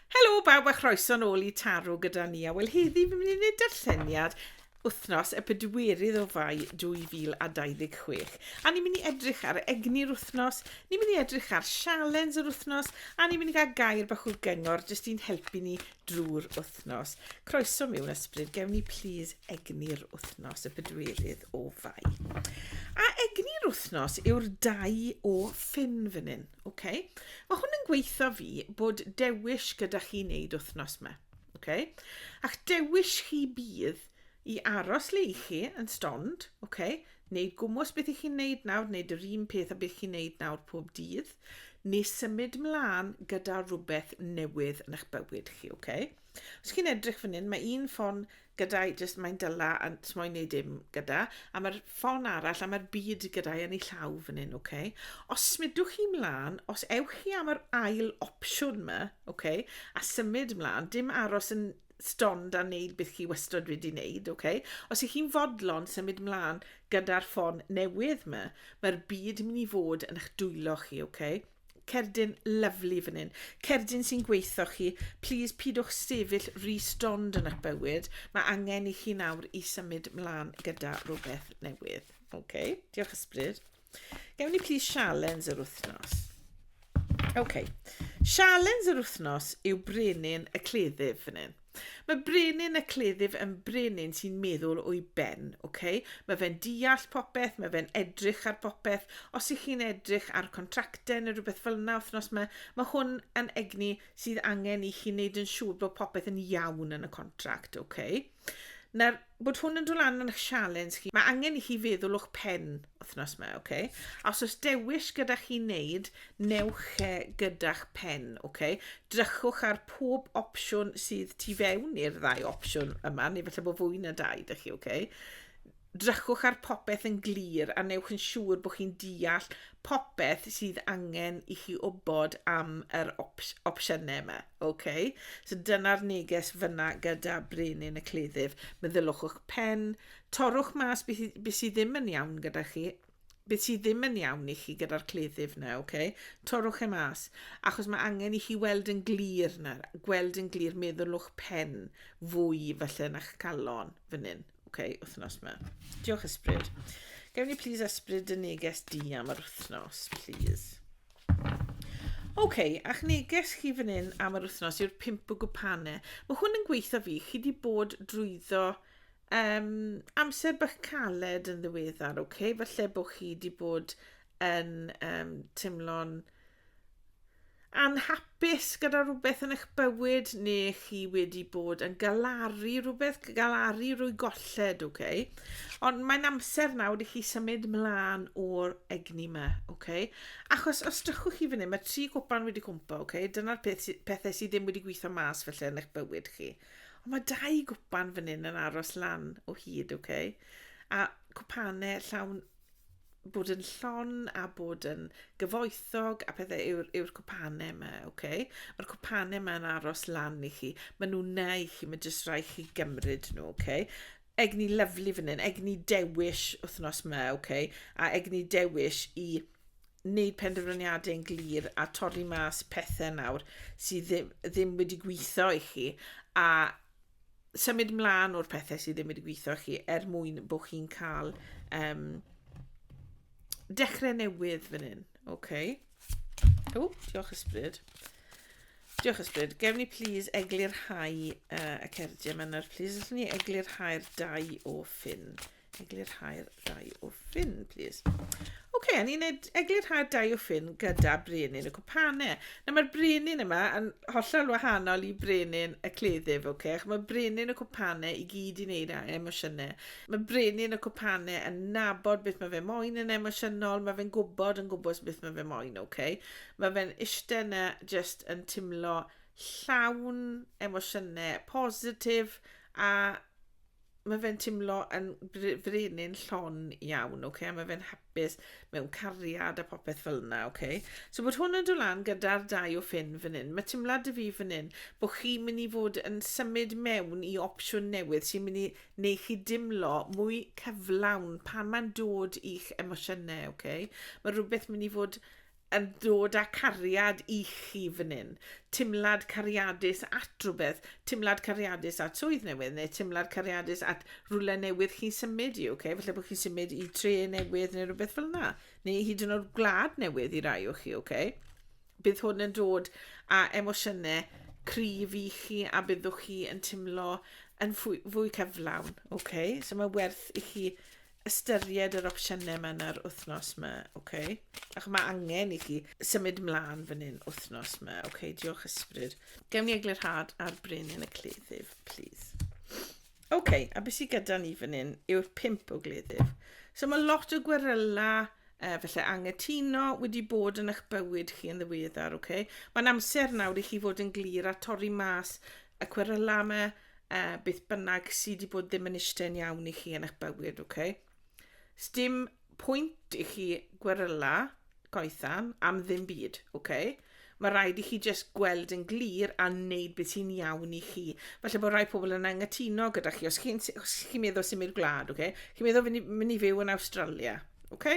Helo bawb a chroeso'n ôl i Taro gyda ni. A wel heddi fi'n mynd i wneud darlleniad wythnos y pedwerydd o fai 2026. A ni'n mynd i edrych ar egni'r wythnos, ni'n mynd i edrych ar sialens yr wythnos, a ni'n mynd i gael gair bach o gyngor jyst i'n helpu ni drwy'r wythnos. Croeso mewn ysbryd, gewn ni plîs egni'r wythnos y pedwerydd o fai. A egni'r wythnos yw'r dau o ffyn fan hyn. Ok, mae hwn yn gweithio fi bod dewis gyda chi wneud wythnos yma. Ok, a'ch dewis chi bydd i aros le i chi yn stond, ok, neu gwmwys beth i chi'n wneud nawr, neu yr un peth a beth chi'n wneud nawr pob dydd, neu symud mlaen gyda rhywbeth newydd yn eich bywyd chi, ok? Os chi'n edrych fan hyn, mae un ffon gyda i jyst mae'n dyla a jyst moyn neud dim gyda a mae'r ffon arall a mae'r byd gyda i yn ei llaw fan hyn, ok? Os smidwch chi mlaen, os ewch chi am yr ail opsiwn yma, ok? A symud mlaen, dim aros yn stond a wneud beth chi wastod wedi wneud, ok? Os ych chi'n fodlon symud mlaen gyda'r ffon newydd yma, mae'r byd yn mynd i fod yn eich dwylo chi, ok? Cerdyn lyfli fan hyn. Cerdyn sy'n gweithio chi. Please, pidwch sefyll rhy stond yn eich bywyd. Mae angen i chi nawr i symud mlaen gyda rhywbeth newydd. OK, diolch ysbryd. Gewn ni please sialens yr wythnos. OK, sialens yr wythnos yw brenin y cleddyf fan hyn. Mae brenin y cleddyf yn brenin sy'n meddwl o'i ben, ok? Mae fe'n deall popeth, mae fe'n edrych ar popeth. Os ych chi'n edrych ar contractau neu rhywbeth fel yna wythnos yma, mae hwn yn egni sydd angen i chi wneud yn siŵr bod popeth yn iawn yn y contract, ok? Nawr, bod hwn yn dod lan yn eich sialens chi, mae angen i chi feddwl o'ch pen wythnos yma, ok? A os oes dewis gyda chi wneud, newch e gyda'ch pen, ok? Drychwch ar pob opsiwn sydd tu fewn i'r ddau opsiwn yma, neu felly bod fwy na dau dych chi, ok? Drychwch ar popeth yn glir a newch yn siŵr bod chi'n deall popeth sydd angen i chi wybod am yr ops opsiynau yma. Okay? So dyna'r neges fyna gyda brenin y cleddyf. Meddyliwch o'ch pen, torrwch mas beth, beth sydd ddim yn iawn gyda chi, beth sydd ddim yn iawn i chi gyda'r cleddyf na, okay? torrwch e mas, achos mae angen i chi weld yn glir na, gweld yn glir, meddylwch pen fwy felly na'ch calon fan hyn. Ok, wythnos yma. Diolch ysbryd. Gewn ni please ysbryd y neges di am yr wythnos, please. Ok, a'ch neges chi fan hyn am yr wythnos yw'r pimp o gwpane. Mae hwn yn gweithio fi. Chi di bod drwyddo um, amser bach caled yn ddiweddar, ok? Falle bod chi di bod yn um, teimlo'n anhapus gyda rhywbeth yn eich bywyd neu chi wedi bod yn galaru rhywbeth, galaru rwy golled, oce? Okay? Ond mae'n amser nawr i chi symud mlaen o'r egni yma, oce? Okay? Achos os drychwch chi fan hyn, mae tri gwpan wedi cwmpa, oce? Okay? Dyna'r peth, pethau sydd ddim wedi gweithio mas felly yn eich bywyd chi. Ond mae dau gwpan fan hyn yn aros lan o hyd, oce? Okay? A cwpanau llawn bod yn llon a bod yn gyfoethog a pethau yw'r yw cwpanau yma, oce? Okay? Mae'r cwpanau yma'n aros lan i chi. Mae nhw'n na i chi, mae jyst rhaid chi gymryd nhw, oce? Okay? Egni lyflu fan hyn, egni dewis wythnos yma, oce? Okay? A egni dewis i wneud penderfyniadau yn glir a torri mas pethau nawr sydd ddim, ddim wedi gweithio i chi a symud mlaen o'r pethau sydd ddim wedi gweithio chi er mwyn bod chi'n cael um, dechrau newydd fan hyn. Okay. O, diolch ysbryd. Diolch ysbryd. Gewn ni please eglurhau uh, y cerdiau yma nawr. Please, allwn ni eglurhau'r dau o ffin. Eglurhau'r dau o ffyn, plîs. Oce, okay, a ni'n gwneud eglurhau'r dau o ffyn gyda brenin y cwpanau. Na, mae'r brenin yma yn hollol wahanol i brenin y cleddyf, oce? Okay? Mae brenin y cwpanau i gyd i wneud â emosiynau. Mae brenin y cwpanau yn nabod beth mae fe moyn yn emosiynol, mae fe'n gwybod yn gwybod beth mae fe moyn, oce? Okay? Mae fe'n eistedd yna just yn timlo llawn emosiynau positif a mae fe'n timlo yn frenin llon iawn, ok, a mae fe'n hapus mewn cariad a popeth fel yna, ok. So bod hwn yn dod lan gyda'r dau o ffyn fan hyn, mae timlad y fi fan hyn bod chi'n mynd i fod yn symud mewn i opsiwn newydd sy'n mynd i neu chi dimlo mwy cyflawn pan mae'n dod i'ch emosiynau, ok. Mae rhywbeth mynd i fod yn dod â cariad i chi fan hyn, timlad cariadus at rhywbeth, timlad cariadus at swydd newydd, neu timlad cariadus at rhywle newydd chi'n symud i, okay? felly bod chi'n symud i tre newydd neu rhywbeth fel yna, neu hyd yn oed gwlad newydd i rai o chi, okay? bydd hwn yn dod â emosiynau cryf i chi a byddwch chi yn timlo yn fwy, fwy cyflawn, okay? so mae werth i chi ystyried yr opsiynau mae yna'r wythnos yma, ok? Ac mae angen i chi symud mlaen fan hyn wythnos yma, ok? Diolch ysbryd. Gewn ni eglurhad ar brenin y cleddyf, please. Ok, a beth sydd gyda ni fan hyn yw'r pimp o gleddyf. So mae lot o gweryla uh, felly angytuno wedi bod yn eich bywyd chi yn ddiweddar, ok? Mae'n amser nawr i chi fod yn glir a torri mas y cwrylame, e, beth bynnag sydd wedi bod ddim yn eistedd iawn i chi yn eich bywyd, ok? Sdim pwynt i chi gweryla goethan am ddim byd, ok? Mae rhaid i chi jyst gweld yn glir a wneud beth sy'n iawn i chi. Felly bod rhai pobl yn anghytuno gyda chi, os chi'n chi meddwl symud gwlad, ok? Chi'n meddwl fynd i, mynd i fyw yn Australia, ok?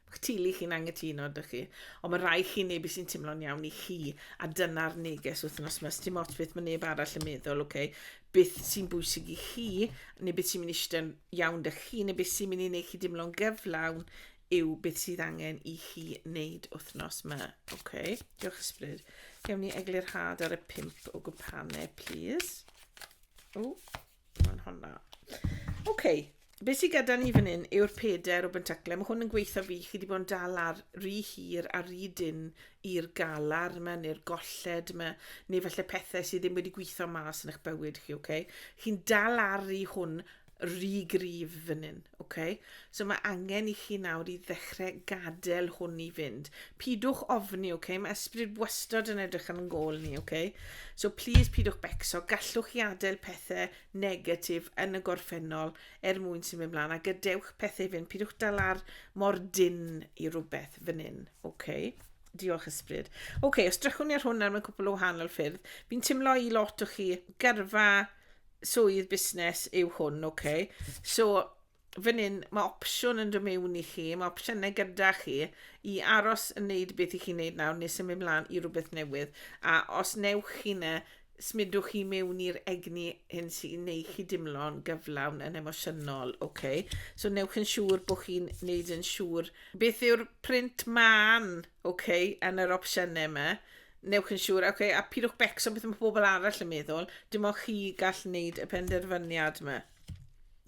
Mae'ch teulu chi'n anghytuno, dych chi. Ond mae rhai chi neu be sy'n teimlo'n iawn i chi, a dyna'r neges wythnos yma. Dim ots beth mae neb arall yn meddwl, oce? Okay? Beth sy'n bwysig i chi, neu beth sy'n mynd i eistedd iawn dych chi, neu beth sy'n mynd i wneud chi dimlo'n gyflawn yw beth sydd angen i chi wneud wythnos yma. Oce, okay? diolch ysbryd. Gewn ni eglurhad ar y pimp o gwpane, please. O, Mae'n honna. Oce, okay. be sydd gyda ni fan hyn yw'r peder o bentaclau. Mae hwn yn gweithio fi, chi wedi bod yn dal ar rhy hir a rhy dyn i'r galar yma neu'r golled yma, neu falle pethau sydd ddim wedi gweithio mas yn eich bywyd chi, oce? Okay? Chi'n dal ar rhy hwn rhy grif fan hyn, Ok, so mae angen i chi nawr i ddechrau gadael hwn i fynd. Pidwch ofni, ok? Mae ysbryd wastad yn edrych ar yn gol ni, ok? So please pidwch becso, gallwch chi adael pethau negatif yn y gorffennol er mwyn sy'n mynd mlaen, a gadewch pethau i fynd, pidwch dal ar mor dyn i rhywbeth fan hyn, ok? Diolch ysbryd. Ok, os drychwn ni ar hwn nawr mewn cwpl o wahanol ffyrdd, fi'n timlo i lot o chi gyrfa swydd busnes yw hwn, ok. So, fan hyn, mae opsiwn yn dod mewn i chi, mae opsiynau gyda chi i aros yn neud beth i chi'n neud nawr neu symud mlaen i rhywbeth newydd. A os newch chi ne, smudwch chi mewn i'r egni hyn sy'n neu chi dimlo'n gyflawn yn emosiynol, ok. So newch yn siŵr bod chi'n neud yn siŵr beth yw'r print man, ok, yn yr opsiynau yma. Newch yn siŵr, ok, a pidwch becso beth mae pobl arall yn meddwl, dim ond chi gall wneud y penderfyniad yma.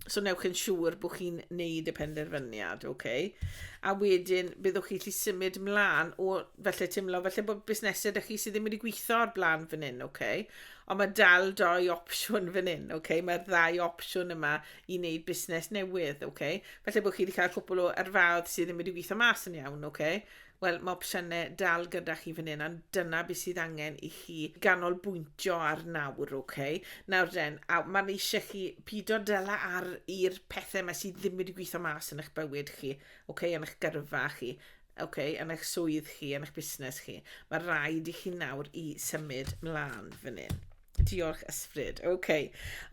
So newch yn siŵr bod chi'n wneud y penderfyniad, ok? A wedyn, byddwch chi lli symud mlaen o felly teimlo, felly bod busnesau ydych chi sydd ddim wedi gweithio ar blaen fan hyn, ok? Ond mae dal doi opsiwn fan hyn, ok? Mae'r ddau opsiwn yma i wneud busnes newydd, ok? Felly bod chi wedi cael cwpl o erfaoedd sydd ddim wedi gweithio mas yn iawn, ok? Wel, mae opsiynau dal gyda chi fan hyn, ond dyna beth sydd angen i chi ganolbwyntio ar nawr, ok? Nawr den, a mae'n eisiau chi pido dyla ar i'r pethau mae sydd ddim wedi gweithio mas yn eich bywyd chi, ok, yn eich gyrfa chi, ok, yn eich swydd chi, yn eich busnes chi. Mae rhaid i chi nawr i symud mlaen fan hyn. Diolch, Ysbryd. OK.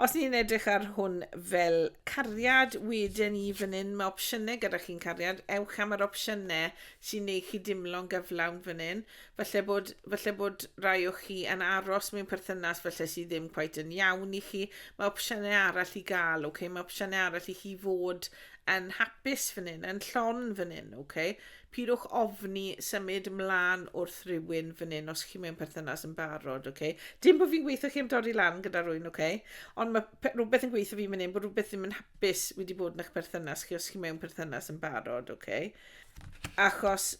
Os ni'n edrych ar hwn fel cariad, wedyn ni fan hyn, mae opsiynau gyda chi'n cariad. Ewch am yr opsiynau sy'n neud chi dimlo'n gyflawn fan hyn. Falle bod, falle bod rai o chi yn aros mewn perthynas falle sydd ddim cweit yn iawn i chi. Mae opsiynau arall i gael, OK. Mae opsiynau arall i chi fod yn hapus fan hyn, yn llon fan hyn, OK. Pidwch ofni symud mlan wrth rywun fan hyn os chi mewn perthynas yn barod, ok? Dim bod fi'n gweithio chi am dori lan gyda rwy'n, ok? Ond mae rhywbeth yn gweithio fi fan hyn bod rhywbeth ddim yn hapus wedi bod yn eich perthynas chi os chi mewn perthynas yn barod, ok? Achos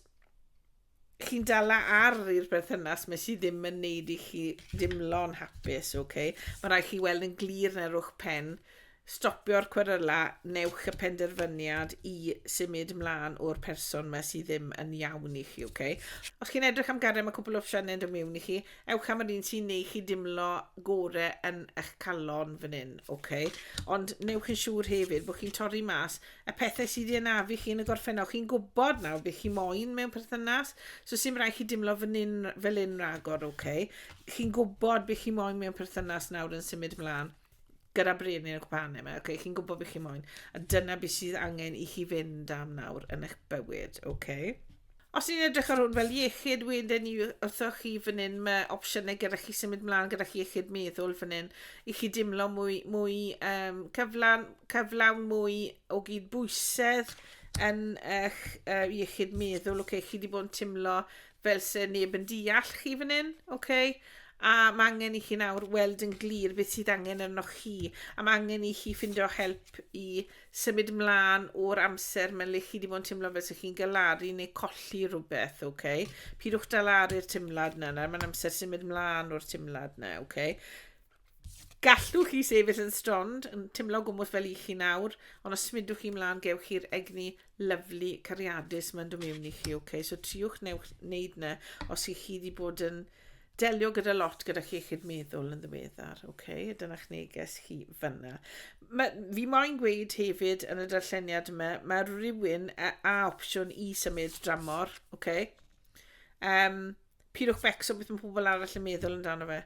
chi'n dala ar i'r perthynas mae sydd ddim yn neud i chi dimlo'n hapus, ok? Mae rhaid chi weld yn glir na rwch pen Stopio'r cweryla, newch y penderfyniad i symud mlaen o'r person ma sydd ddim yn iawn i chi, ok? Os chi'n edrych am gario ma cwpl o opsiynau yn dod mewn i chi, ewch am yr un sy'n neu chi dimlo gore yn eich calon fan hyn, ok? Ond newch yn siŵr hefyd bod chi'n torri mas y pethau sydd i anafu chi yn y gorffennol. Chi'n gwybod nawr beth chi moyn mewn perthynas, so sy'n rhaid chi dimlo fan hyn, fel hyn ragor, ok? Chi'n gwybod beth chi moyn mewn perthynas nawr yn symud mlaen. gyda Brian yn eich pan yma, okay, chi'n gwybod beth chi moyn, a dyna beth sydd angen i chi fynd am nawr yn eich bywyd, okay? Os ni'n edrych ar hwn fel iechyd wedyn ni wrthoch chi fan hyn, mae opsiynau gyda chi symud mlaen gyda chi iechyd meddwl fan hyn, i chi dimlo mwy, mwy um, cyflawn, cyflawn mwy o gyd bwysedd yn eich uh, iechyd meddwl, okay, chi wedi bod yn timlo Fel se neb yn deall chi fan hyn, oce? A mae angen i chi nawr weld yn glir beth sydd angen arnoch chi. A mae angen i chi ffindo help i symud ymlaen o'r amser mae'n le chi wedi bod yn teimlo fel sy'ch chi'n galaru neu colli rhywbeth, oce? Pidwch dalaru'r teimlad yna, nawr mae'n amser symud ymlaen o'r teimlad yna, oce? Gallwch chi sefyll yn strond, yn timlo gwmwth fel i chi nawr, ond os smidwch chi mlaen gewch chi'r egni lyflu cariadus mae'n dod mewn i chi, ok? So triwch newch wneud na os chi chi wedi bod yn delio gyda lot gyda chi chi'r meddwl yn ddiweddar, ok? Dyna'ch neges chi fyna. Mae, fi moyn gweud hefyd yn y darlleniad yma, mae rhywun a, a opsiwn i symud dramor, ok? Um, Pidwch fecso beth mae pobl arall yn meddwl amdano fe.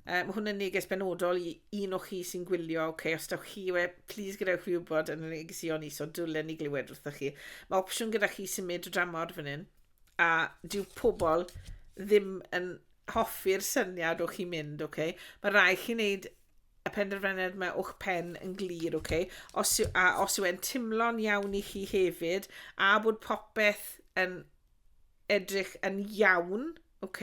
Uh, mae hwnna'n neges benodol i un o chi sy'n gwylio, oce, okay, os dawch chi we, please gadewch chi wybod yn y negesio ni, so dwlen ni glywed wrthych chi. Mae opsiwn gyda chi symud o dramor fan hyn, a dyw pobl ddim yn hoffi'r syniad o chi mynd, oce? Okay? Mae rai chi wneud y penderfyniad mae o'ch pen yn glir, oce? Okay? Os, a os yw e'n timlo'n iawn i chi hefyd, a bod popeth yn edrych yn iawn, ok,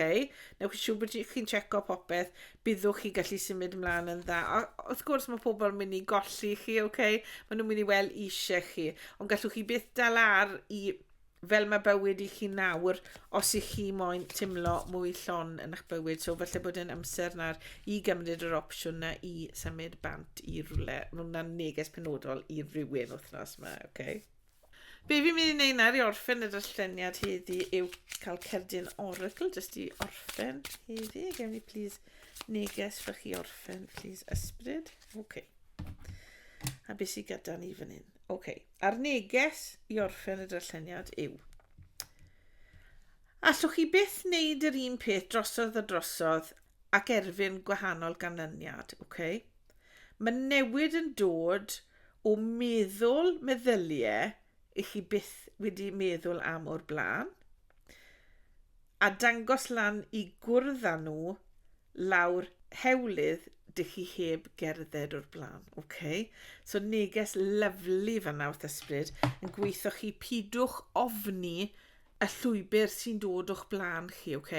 newch chi siw bod chi'n checo popeth, byddwch chi gallu symud ymlaen yn dda. A wrth gwrs mae pobl yn mynd i golli chi, ok, maen nhw'n mynd i weld eisiau chi, ond gallwch chi byth dal ar i fel mae bywyd i chi nawr os i chi moyn timlo mwy llon yn eich bywyd. So felly bod yn amser nawr i gymryd yr opsiwn na i symud bant i rhywle. Mae hwnna'n neges penodol i rywun wythnos yma, oce? Okay? Be fi'n mynd i wneud nawr i orffen y darlleniad heddi yw cael cerdyn oracle jyst i orffen heddi. Gewn ni please neges fy chi orffen, please ysbryd. OK. A beth sydd gyda ni fan hyn? OK. A'r neges i orffen y darlleniad yw. Allwch chi byth wneud yr un peth drosodd a drosodd ac erfyn gwahanol ganlyniad, OK? Mae newid yn dod o o meddwl meddyliau i chi byth wedi meddwl am o'r blaen, a dangos lan i gwrdd â nhw lawr hewlydd dych chi heb gerdded o'r blaen. Okay. So neges lyflu fanna wrth ysbryd yn gweithio chi pidwch ofni y llwybr sy'n dod o'ch blaen chi, ok?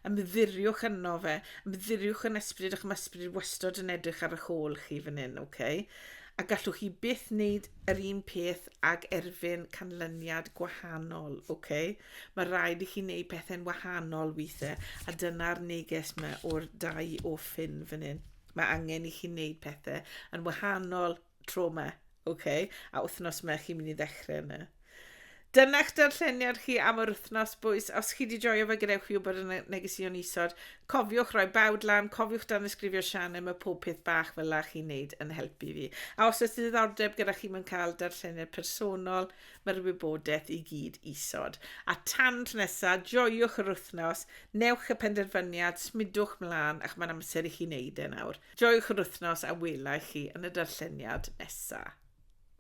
Ymddiriwch yno fe, ymddiriwch yn ysbryd ac mae ysbryd wastod yn edrych ar eich ôl chi fan hyn, ok? A gallwch chi byth wneud yr un peth ag erfyn canlyniad gwahanol, ok? Mae rhaid i chi wneud pethau'n wahanol weithiau, a dyna'r neges mae o'r dau o ffyn fan hyn. Mae angen i chi wneud pethau yn wahanol tro yma, ok, a wythnos yma chi'n mynd i ddechrau yna. Dyna'ch darlleniad chi am yr wythnos bwys. Os chi wedi joio fe, gadewch fi wybod yn y negesion isod. Cofiwch roi bawd lan, cofiwch dan ysgrifio Sianne, mae pob peth bach fel la chi'n neud yn helpu fi. A os oes ddiddordeb gyda chi mewn cael darlleniad personol, mae'r wybodaeth i gyd isod. A tan tro nesa, joiwch yr wythnos, newch y penderfyniad, smidwch mlaen, ac mae'n amser i chi wneud e nawr. Joiwch yr wythnos a welai chi yn y darlleniad nesa.